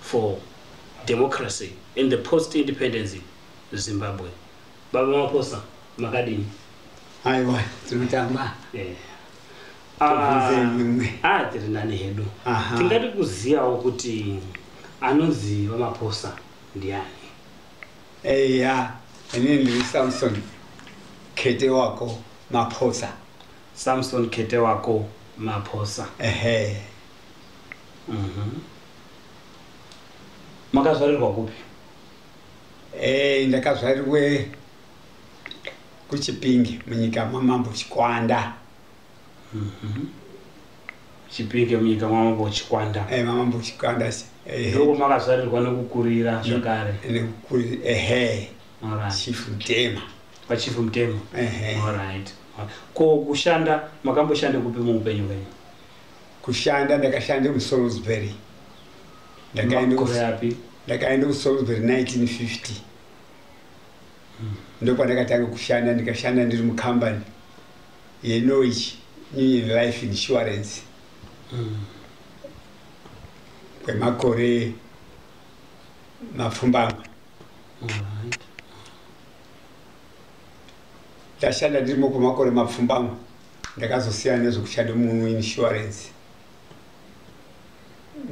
for democracy in the post independence zimbabwe baba maposa makadini aiwa tiri kutamba eh. ah, ah, tiri nani hedu tingati kuzivawo kuti anonzi vamaposa ndiani eya ini ndiri samson kete wako maposa samson kete wako maposa ehe Mhm. Makazvarirwa kupi? Eh, ndakazvarirwe kuChipinge munyika mamambo Chikwanda. Mhm. Chipinge munyika mamambo Chikwanda. Eh, mamambo Chikwanda. Eh. Ndoko makazvarirwa nekukurira zvakare. Nekukurira ehe. All right. Chief Mtema. Pa Chief Mtema. Ehe. All right. Ko kushanda makamboshanda kupi muupenyu hwenyu? kushanda ndakashanda musalisbury ndakaenda kusalisbury 1950 hmm. ndopandakatanga kushanda ndikashanda ndiri mukambani yenoich union life insurance hmm. kwemakore mapfumbamwe ndashanda ndirimo kwemakore mapfumbamwe ndakazosiyana nezvekuchado munhu insurance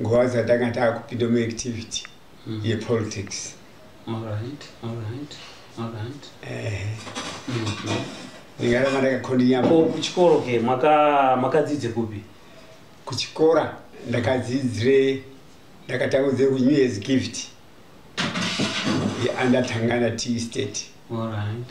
nguva dzatanga taakupinda muactivity mm. yepolitics ndingaramba ndakakondinyaakuchikoro ke makadzidze kupi kuchikora ndakadzidzire ndakatangudze kunew years gift yeandatangana t state All right.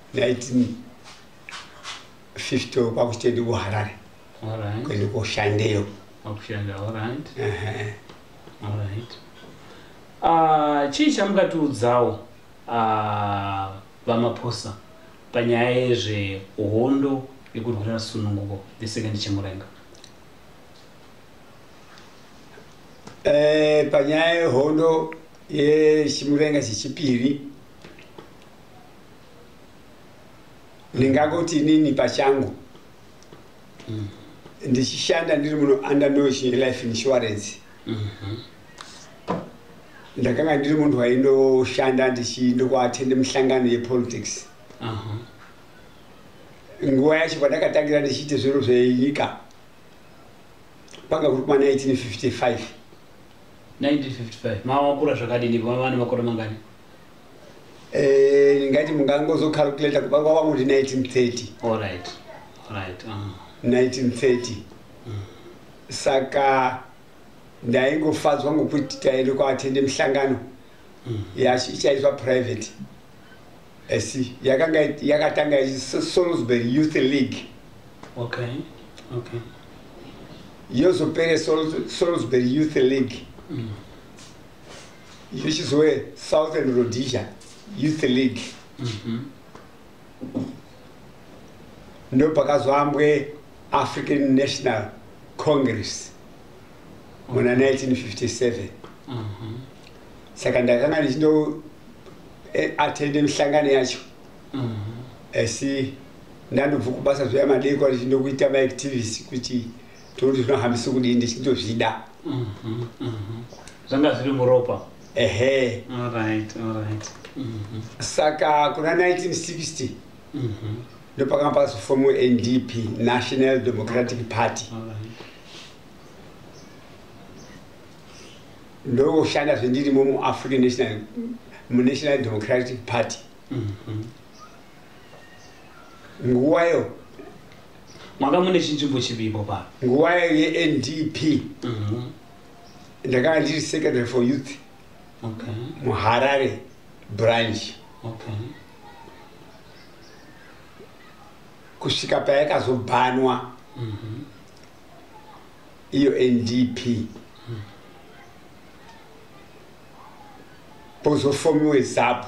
1950 kwakuchitendi kuharare kuende koshandeyo ah, chii chamukatiudzawo ah, vamaposa panyaya yezvehondo yekurwira sununguko the second chimurenga eh, panyaya yehondo yechimurenga chechipiri ndingangoti inini pachangu mm. ndichishanda ndiri muno under notion life insurance mm -hmm. ndakanga ndiri munhu waindoshanda ndichindokuatende mihlangano yepolitics uh -huh nguva yacho pandakatangira ndichiite zviro zvenyika panga kuri kuma 1955 1955 mawakura zvakadini vavana vakora mangani Eh, ndingati mungangozocalculata kuba kwava muri 1930 Alright. Alright. Uh. 1930 saka ndaingofadzwa ngokuti taende kwaatende mihlangano yacho ichaitwa private asi yakanga yakatanga ichi salisbury youth league Okay. Okay. yozopere Salisbury- salisbury youth league Which is where Southern Rhodesia Youth League mm-hmm. ndo pakazoambwe African National Congress muna 1957 mm-hmm. saka ndakanga ndichindo eh, attende mihlangano yacho mm-hmm. asi ndandobva kubasa zvoya madeko ndichindokuita maactivist kuti toti zvinohambisa kudii ndichitozvida mhm, mhm. zvanga zviri muropa ehe mhm. saka kuna 1960 ndopakanga pakazofomu ndp national democratic party ndokushanda zvendirimo muafrican national munational democratic party nguvayo manga mune chinzvimbo chivimbo pa nguva yendp mhm. ndakanga ndiri secretary for youth muharare branch kusvika payakazobhanwa mhm. iyo ndp mhm. pozofomiwe zapu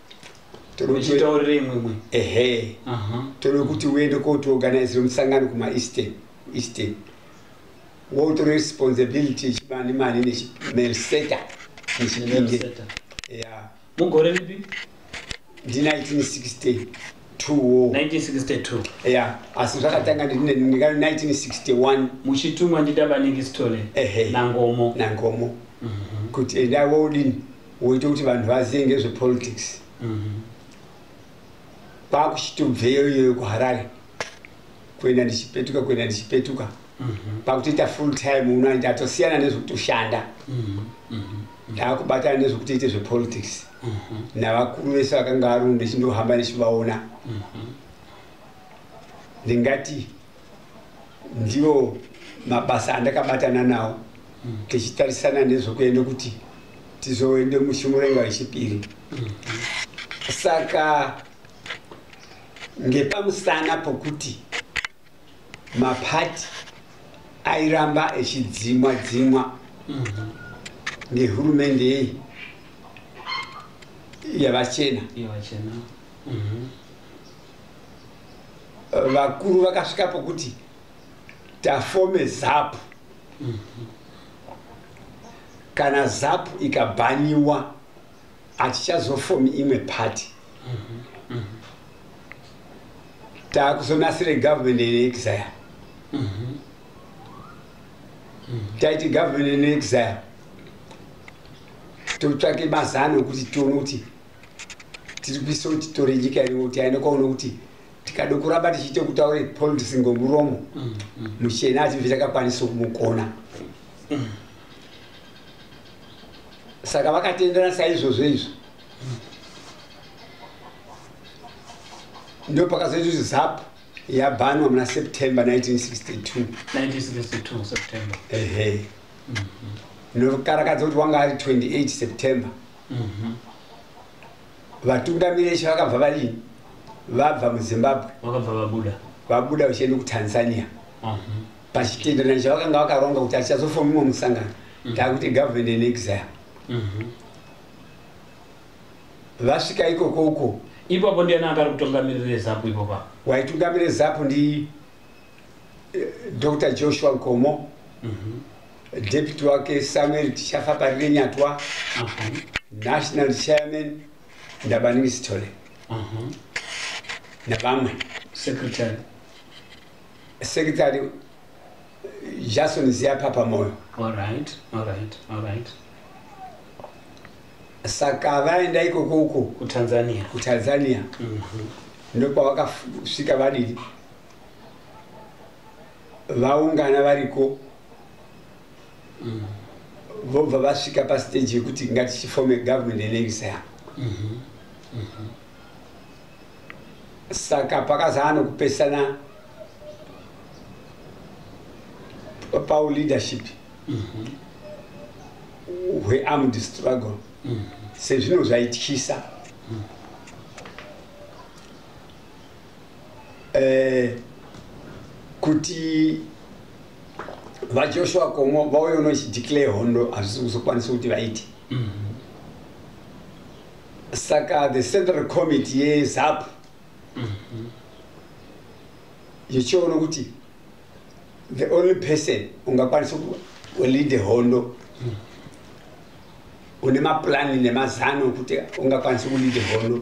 uchitaurira imwe imwe ehe tode kuti uende kotiorganizira musangano kumaeastern eastern wotore responsibility yechibani mani nechimerseta nechipinge ya mugore ripi ndi 1960 ya asi zvakatanga ndikano 1961 muchitumwa ndidabaningi stole nangomo nangomo mhm. kuti endai wodini woita kuti vanhu vazive ngezvepolitics mm-hmm. kwakuchitobveyo iyoyo kuharare kuenda ndichipetuka kuenda ndichipetuka mm-hmm. pakutoita full time uno ndatosiyana nezvekutoshanda mm-hmm. ndaakubatana nezvekutoita zvepolitics navakuru vese vakanga varunde chindohamba ndichivaona ndingati ndiwo mabasa andakabatana nawo mm. tichitarisana nezvokuenda kuti tizoende mushimurenga wechipiri mm. saka ngepamusana pokuti mapati airamba echidzimwa dzimwa mm -hmm. ngehurumende yei yavachena mm -hmm. vakuru vakasvika pokuti tafome zapu kana zapu ikabhaniwa hatichazofomi imwe pati taakuzonasira government in exile taiti government in exile totsvake mazano okuti tione kuti tiri kuisa kuti tore nyika iri kuti aende kwaone kuti tikada kuramba tichiita kutaura politics ngomuromo mm, mm. muchena ati vitakakwanisa kumugona mm. saka vakatenderana saizvozvo izvo ndo pakazoita kuti zap yabhanwa muna september 1962 ehe mm-hmm. ndokarakadza kuti wanga ari 28 september mhm. vatungamiri eshe vakabva vadii vabva muzimbabwe vakabva vabuda vabuda vachienda kutanzania mhm. pachitenderano chavakanga vakaronga kuti achazofa mumwe musangano mhm. taakuti government in exile vasvika ikoko uko ipapo ndiani akari kutungamirira zapu ipopa waitungamira zapu ndi dr joshua nkomo mm -hmm. deputy wake samuel tichafa parire nyatwa uh -huh. national chairman ndabaningi sithole uh -huh. navamwe secretary secretary jason ziyapapa moyo all right, all right, all right saka vaenda ikoko uko kutanzania kutanzania mm -hmm. ndokwavakasvika vadidi vaungana variko mm. vobva vasvika pastage yekuti ngatichifome government enevisaya mm -hmm. mm -hmm. saka pakazaa nokupesana pau leadership mm -hmm. hwearmed struggle mm -hmm. sezvino zvaityisa mm -hmm. eh, kuti vajoshua komo vauye uno chideclare hondo hazvisi kuzokwanisa kuti vaite mm-hmm. saka the central committee yezap mm-hmm. yechiona kuti the only person ungakwanisa kulead hondo mm-hmm. une maplani nemazano okuti ungakwanisa kulead hondo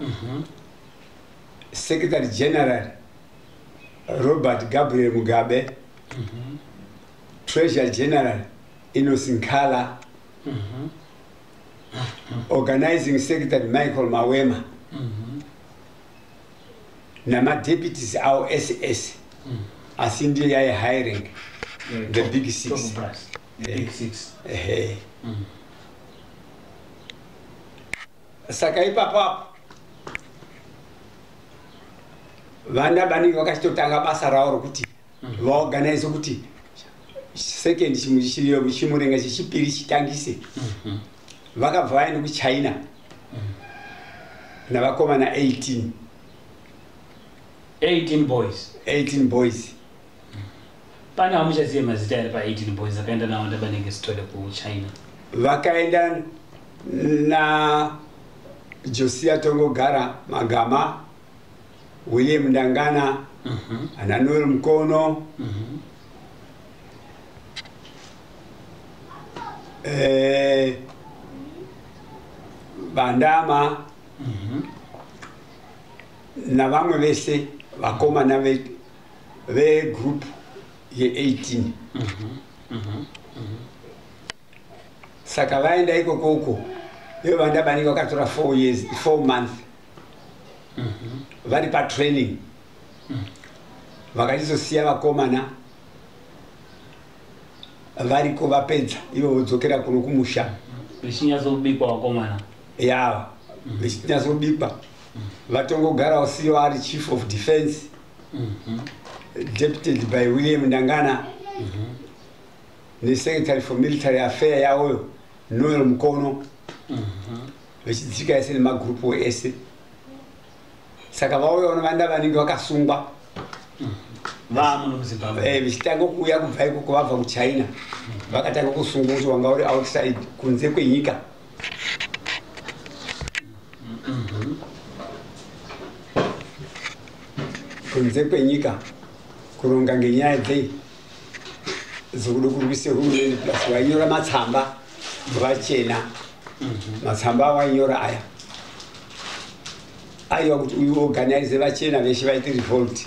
mhm. secretary general robert gabriel mugabe mhm. treasure general inosinkala mhm. organizing secretary michael mawema namadeputies awo ese ese asi ndiyo yaye high rank the big six eh. eh. mm. saka ipapo apo vana vanenge vakachitotanga basa ravo rokuti mhm. vaorganize kuti second chimurenga chechipiri chitangise mhm. vakabva vaenda kuchina mhm. navakomana 18 18 boys 18 boys Pana hamuchazive mazita here pa18 boys akaenda nawo ndabanenge sitole kuchina. Vakaenda na Josia Tongogara Magama, William Ndangana, mm -hmm. ana Noel Mkono, mm -hmm. eh, Bandama mm -hmm. na vamwe vese vakomana vetu vegroup ye18 mhm, mhm, mhm. saka vaenda ikoko uko ivo vanda vanenge vakatora four years four month vari patraining vakachizosiya vakomana variko vapedza ivo vodzokera kuno kumusha vechinyatsokubikwa vakomana yava vechinyatsokubikwa vatongogarawo siyo ari chief of defense mm-hmm. deputed by william ndangana mm-hmm. nesecretary for military affair yawoyo noel mukono mm-hmm. vechidzika ese nemagrupu ese saka vauya vanovanda vanenge vakasungwa Eh, vichitanga kuuya kubva ikoko vabva kuchina vakatanga kusungwa kuti wanga uri outside kunze kwenyika kunze kwenyika kuronga ngenyaya dzei dzokuda kurwisa hurumende plus vainyora matsamba vachena matsamba avainyora aya aiwa kuti uyu organize vachena veshe vaite revolt